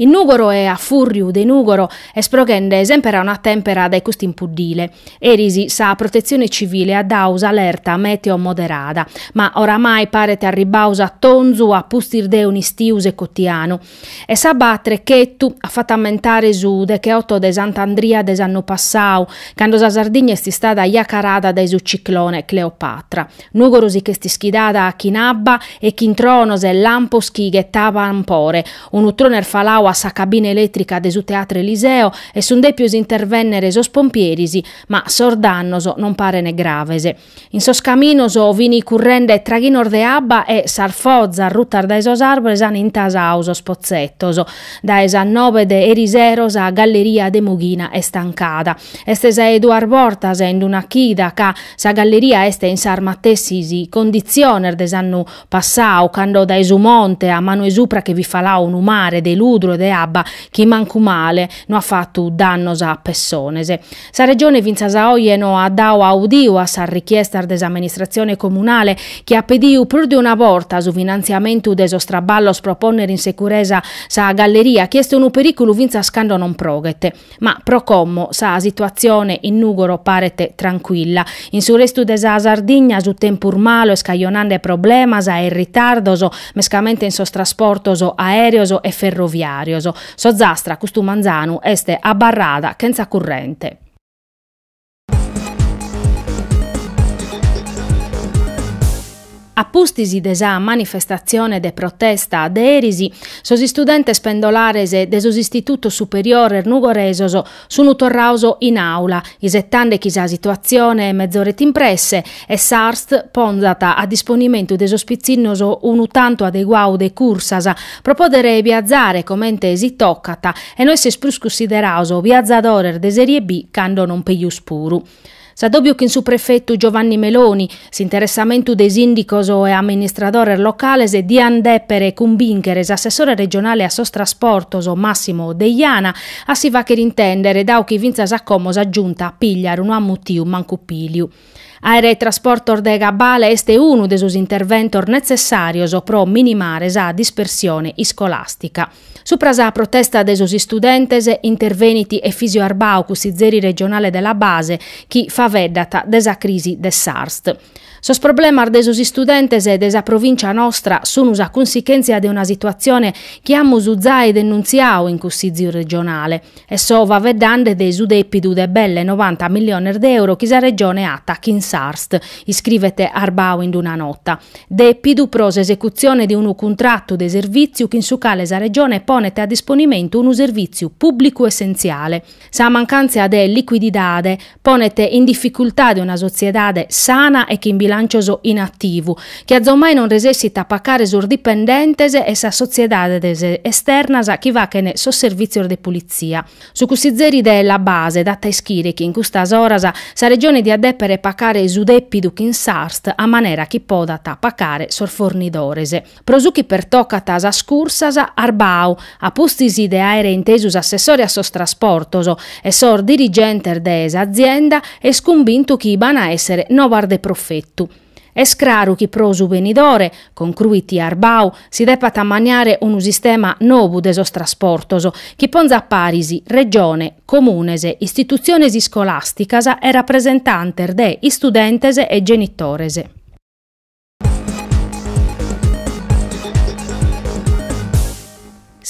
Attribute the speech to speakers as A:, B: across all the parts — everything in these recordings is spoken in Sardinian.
A: In Nùgoro e a fùrriu de Nùgoro est proghende semper a una tèmpera dae custu impuddile. Eris sa Protetzione Civile at dadu s'alerta mèteo moderada, ma oramai paret arribbau s'atonzu a pustis de un'istiu secotianu. E s'abba a trechetu at fatu ammentare su decheoto de Sant'Andria de s'annu passau, cando sa Sardigna est istada jacarada dae su ciclone Cleopatra. Nùgoro si ch'est ischidada chin abba e chin tronos e lampos chi ghettaban pore, unu tronu est falau a sa cabina elètrica de su Teatro Eliseo e sunt dèpios intervènnere sos pompieris, ma sos dannos non parene graves. In sos caminos fini currende traghinos de abba e sas fozas rutas dae sos àrbores an intasau sos potzetos. Dae sas nobe de erisero sa galleria de Mughina est tancada. Est sa 'e duas bortas in d'una chida ca sa galleria est in sas matessis conditziones de s'annu passau, cando dae su monte a manu 'e supra che fit falau unu mare de ludru e de abba chi mancu male no at fatu dannos a pessones. Sa Regione fintzas a oje no at dau audiu a sas richiestas de s'amministratzione comunale chi at pediu prus de una borta su finantziamentu de sos traballos pro pònnere in securesa sa galleria chi est unu perìculu fintzas cando non proghet. Ma pro como sa situatzione in Nùgoro paret trancuilla. In su restu de sa Sardigna su tempus malu est cajonande problemas e ritardos mescamente in sos trasportos aèreos e ferroviàrios. S'Ozastra custu manzanu est abarrada chentza currente. A pustis de sa manifestatzione de protesta de eris, sos istudentes pendolares de sos istitutos superiores nugoresos sun torraos in àula, isetande chi sa situatzione mezoret in presse e s'ARST ponzat a disponimentu de sos pitzinnos unu tantu adeguau de cursas pro poder biazare comente si tocat e no esser prus cunsideraos biazadores de serie B cando non pejus puru. S'adòbiu chin su prefetu Giovanni Meloni, s'interessamentu de sìndicos e amministradores locales diant dèpere cumbìnchere s'assessore regionale a sos trasportos Massimo Deiana a si fàghere intèndere, dau chi fintzas a como sa Giunta Pigliaru no at mutiu mancu pìliu. Àere trasportos de cabale est unu de sos interventos netzessàrios pro minimare sa dispersione iscolàstica. Supra sa protesta de sos istudentes intervenit Efisio Arbau, cussizeri regionale de La Base, chi faveddat de sa crisi de s'ARST. Sos problemas de sos istudentes de sa provìncia nostra sun sa cunsichèntzia de una situatzione chi amus zai denuntziau in cussìziu regionale. e so faveddande de su depidu de belle novanta milliones de euro chi sa Regione at at chin s'Arst, iscrivet Arbau in una nota. Depidu pro s'esecutzione de unu cuntratu de servìtziu chin su cale sa Regione ponet a disponimentu unu servìtziu pùblicu essentziale. Sa mancàntzia de licuididade ponet in dificultade una sotziedade sana e chin bilàncios in ativu, chi atzomai non resessit a pacare sos dipendentes e sas sotziedades esternas chi fachen sos servìtzios de pulitzia. Su cussizeri de La Base dat a ischire chi in custas oras sa Regione diat dèpere pacare su dèpidu chin s'Arst a manera chi podat pacare sos fornidores. Pro su chi pertocat a sas cursas, Arbau, a pustis de àere intesu s'assessore a sos trasportos e sos dirigentes de s'azienda, est cumbintu chi b'an a èssere nobas de profetu. Est craru chi pro su benidore, concruit Arbau, si depat ammaniare unu sistema nobu de sos trasportos, chi ponzat paris Regione, Comunes, istitutziones iscolàsticas e rapresentantes de istudentes e genitores.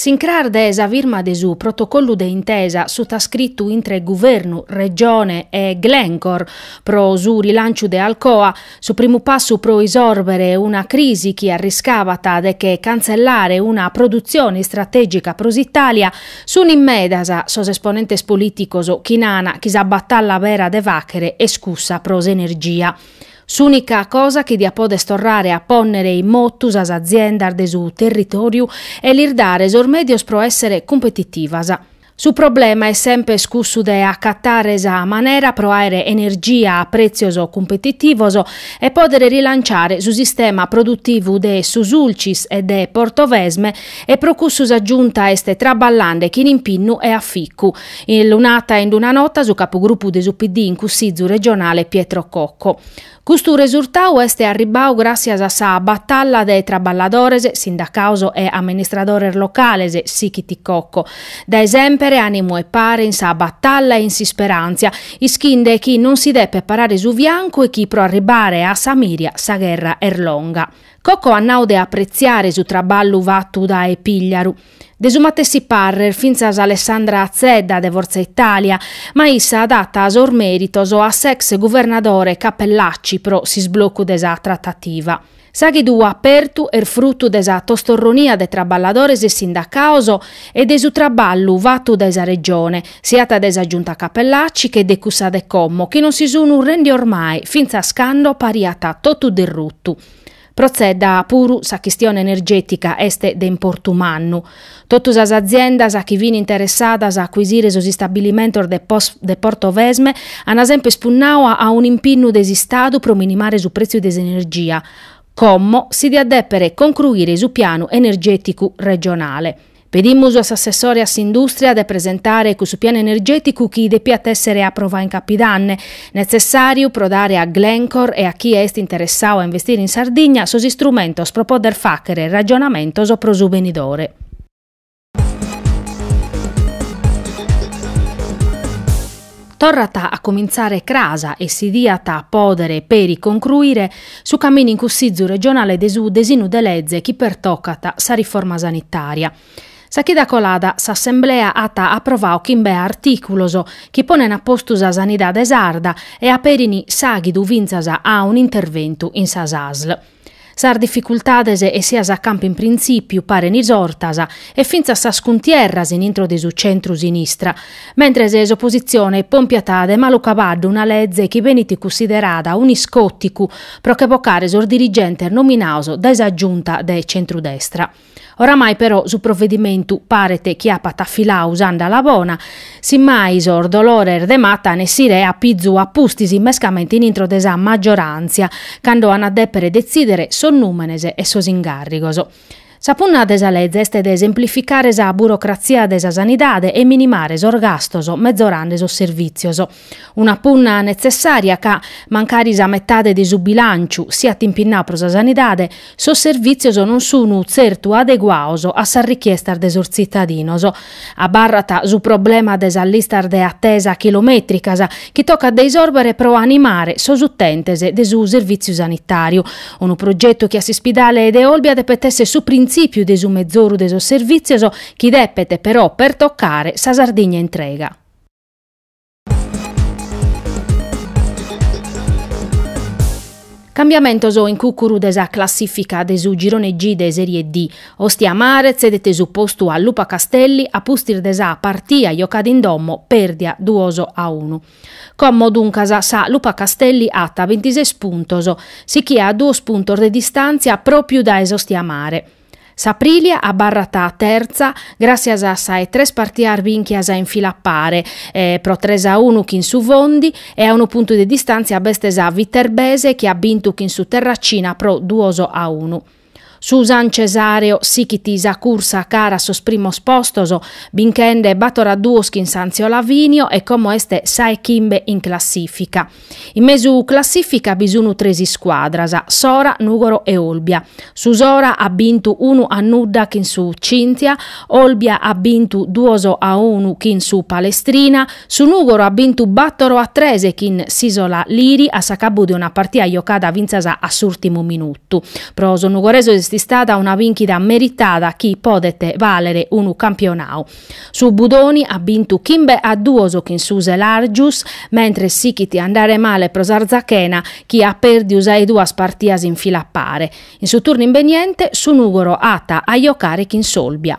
A: S'incras de sa firma de su protocollu de intesa sutascritu intre Guvernu, Regione e Glencore pro su rilanciu de Alcoa, su primu passu pro isòrbere una crisi chi arriscabat de che cantzellare una produtzione istratègica pro s'Itàlia, sunt in medas sos esponentes polìticos chi nana chi sa batalla bera de fàchere est cussa pro s'energia. S'ùnica cosa chi diat podet torrare a pònnere in motu sas aziendas de su territòriu e lis dare sos mèdios pro èssere cumpetitivas. Su problema est semper cussu de acatare sa manera pro àere energia a prètzios cumpetitivos e pòdere rilanciare su sistema produtivu de su Sulcis e de Portovesme e pro cussu sa Giunta est traballande chin impinnu e aficu Lu nat in d'una nota su capugrupu de su PD in Cussizu regionale Pietro Cocco. Custu resurtau est arribbau gràssias a sa batalla de traballadores, sindacaos e amministradores locales, sighit Cocco. Dae semper ànimu e pare in sa batalla e in s'isperàntzia, ischinde chi non si depet parare su fiancu e chi pro arribbare a sa mìria sa gherra est longa. Cocco at nau de apretziare su traballu fatu dae Pìgliaru. De su matessi parrer fintzas Alessandra Zedda de Forza Italia, ma issa dat sos mèritos a s'ex guvernadore Cappellacci pro s'isblocu de sa tratativa. S'àghidu apertu est frutu de sa tostorronia de traballadores e sindacaos e de su traballu fatu dae sa Regione, siat de sa Giunta Cappellacci che de cussa de como, chi non si sunt rendios mai, fintzas cando pariat totu derrutu. Pro Zedda puru sa chistione energètica est de importu mannu. Totu sas aziendas chi fin interessadas a acuisire sos istabilimentos de Portovesme an semper spunnadu a un'impinnu de s'Istadu pro minimare su prètziu de s'energia. Como si diat dèpere concruire su pianu energèticu regionale. Pedimus a s'assessore a s'industria de presentare cussu pianu energeticu chi depiat essere aprovau in Capidanne, netzessariu pro dare a Glencore e a chie est interessau a investire in Sardigna sos istrumentos pro poder faghere ragionamentos pro su benidore. Torrat a cumintzare cras e si diat pòdere peri concruire su caminu in Cussìgiu regionale de su desinu de leze chi pertocat sa riforma sanitària. Sa chida colada s'assemblea at aprovadu chimbe artìculos chi ponent a postu sa sanidade sarda e aperin s'àghidu fintzas a un'interventu in sas ASL. Sas dificultades essias a campu in printzìpiu paren isortas e fintzas sas cuntierras in intro de su centru-sinistra, mentres s'opositzione pompiat de malu cabaddu una leze chi benit cussiderada un'iscòticu pro che vocare sos dirigentes nominados dae sa Giunta de centru-destra. Oramai però su provedimentu paret chi apat afiladu s'andala bona, si mai sos dolores de mata an a essire a pizu a pustis mescamente in intro de sa maggioràntzia, cando an a dèpere detzìdere sos nùmenes e sos ingàrrigos. Sa punna de sa leze est de semplificare sa burocratzia de sa sanidade e minimare sos gastos, mezorande sos servìtzios. Una punna netzessària ca, mancari sa metade de su bilànciu siat impinnau pro sa sanidade, sos servìtzios non sunu tzertu adeguados a sas richiestas de sos tzitadinos. Abarrat su problema de sas listas de atesa chilomètricas chi tocat de isòrbere pro animare sos utentes de su servìtziu sanitàriu. Unu progetu chi a s'ispidale de Olbia depet èssere su printzìpiu de su mezoru de sos servìtzios chi depet, però, pertocare sa Sardigna intrega. Cambiamentos in cùcuru de sa classìfica de su Girone G de Sèrie D. Ostia Mare tzedet su postu a Lupa Castelli a pustis de sa partia jocada in domo pèrdia duos a unu. Como duncas sa Lupa Castelli at bintises puntos, sichia a duos puntos de distàntzia pròpiu dae s'Ostia Mare. S'Aprilia abarrat tertza gràssias a sa 'e tres partias bìnchias in fila a pare, pro tres a unu chin su Fondi e a unu puntu de distàntzia b'est sa Viterbese chi at bintu chin su Terracina pro duos a unu. Su San Cesàreo sighit sa cursa cara a sos primos postos, binchende bator a duos chin s'Antziolavìnio e como est sa 'e chimbe in classìfica. In mesu classìfica bi sunu tres iscuadras, Sora, Nùgoro e Olbia. Su Sora at bintu unu a nudda chin su Cynthia, Olbia at bintu duos a unu chin su Palestrina, su Nùgoro at bintu bàtoro a tres chin s'Isola Liri a s'acabbu de una partida jocada fintzas a s'ùrtimu minutu. Pro sos nugoresos est istada una bìnchida meritada chi podet vàlere unu campionau. Su Budoni at bintu chimbe a duos chin su Selargius, mentres sichit a andare male pro s'Arzachena chi at pèrdiu sas duas partidas in fila a pare. In su turnu imbeniente su Nùgoro at a jocare chin s'Olbia.